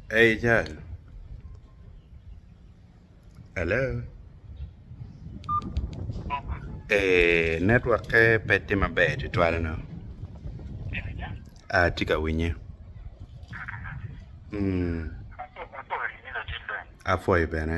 Eeii cal, hello eeii network pe pe tye maber tutwal onongo atye ka winye apwoyo bene.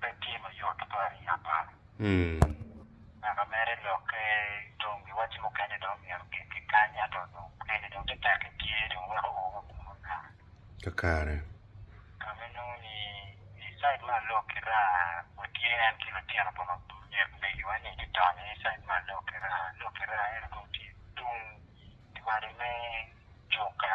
pe tye ma yot tutwal i Japan. Naka mere, lokke i tong giwacci mukene dong myero ogik ki kany, ento dong mukene dong te tekki tye dong weko o wa kunu naka. Kakare. Ka ma inongo ni i cid me alok ki raa watye en ki litino pa myero megiwa ni ki donyo i cid me alok ki raa. Alok ki raa eno dong tye tung diwade me juka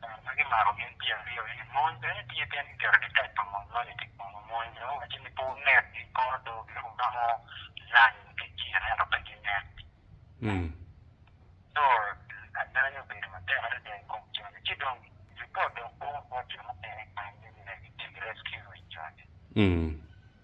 Dano ma gimako gin pi aryo eni mony bene tye pien giketo ditek pa mony moni pi kwogo. Mony bene owacci ni pe wunek i kor odoo pien wuromo lany ki gin ento pe ginek. Co adany obedo matek adada i kom joni ci dong ripot dong bor bot jo mukene kany ni ginegi tic rescue i joni.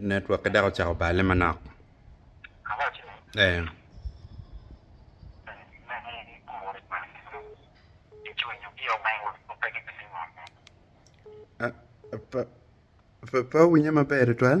Network-ke dok ocako balle manok. Ee. Pe, pe, pe awinye maber tutwal.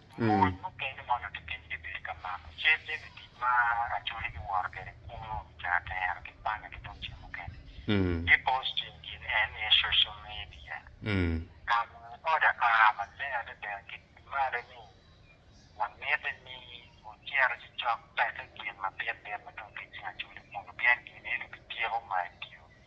Mony mukene ma onongo kitimo gibedo ka mako cal jami tic ma Acholi giwoto kwede kulu i Caratero ki Panya ki tung cel mukene. Ki posting gin en iye social media. Ka lwongo oda a maleng adada ki malo ni wamiti ni wucito ci cok peke gin mabitbit ma tung ki cing Acholi kunu pien gin eno bityeko ma i dye-wi.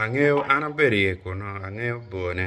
Angeyo, an abedo iye kunu, angeyo bor ne.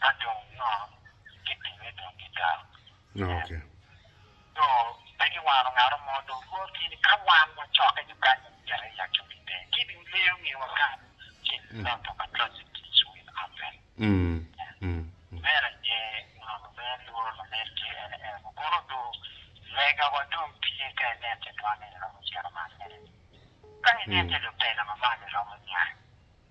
ka dong nongo gibinge dong gital. Okay. So pe giwano ngaro mo dong Rwot ki ni ka wan wacokke ki kany ma myero aye ya cobi pe gibin ngeyo ni wakat ki i lot of atrocities will happen. Mm. Mer aye nongo lubee lworo lamed ki en en kono do lega wa dong tye ka inen te dwan en romo cito man mene. Ka inen te lutela ma malo romo nya.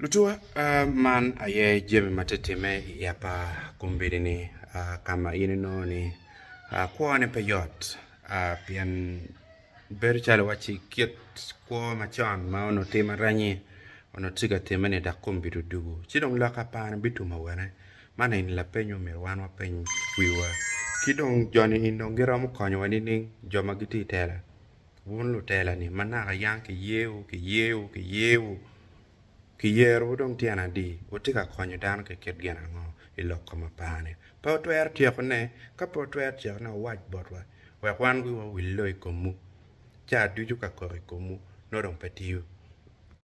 Lutuwa, man aye jami ma tye ka timme i yap pa kombeddi-ni ka ma in inongo ni kwone pe yot pien bedo calo iwacci kit kwo macon ma onongo tye marannyi onongo tye ka timme-ni dok kombeddi odwogo ci dong lok apani bitum awene? Man eni lapeny ma omyero wan wapeny wiwa. Ki dong joni eni dong giromo konyowa nining? Jo ma gitye i tela, wun lutela-ni ma naka yang kiyeyowu, kiyeyowu, kiyeyowu, kiyerowu dong tyen adi? Wutye ka konyo dano ki kit gin ango i lok kom apar-ni? Pe wutwero tyekone? Ka pe wutwero tyekone, wuwac botwa wek wan wiwa owille i komwu. Caa ducu ka kok i komwu nongo dong pe tiyo.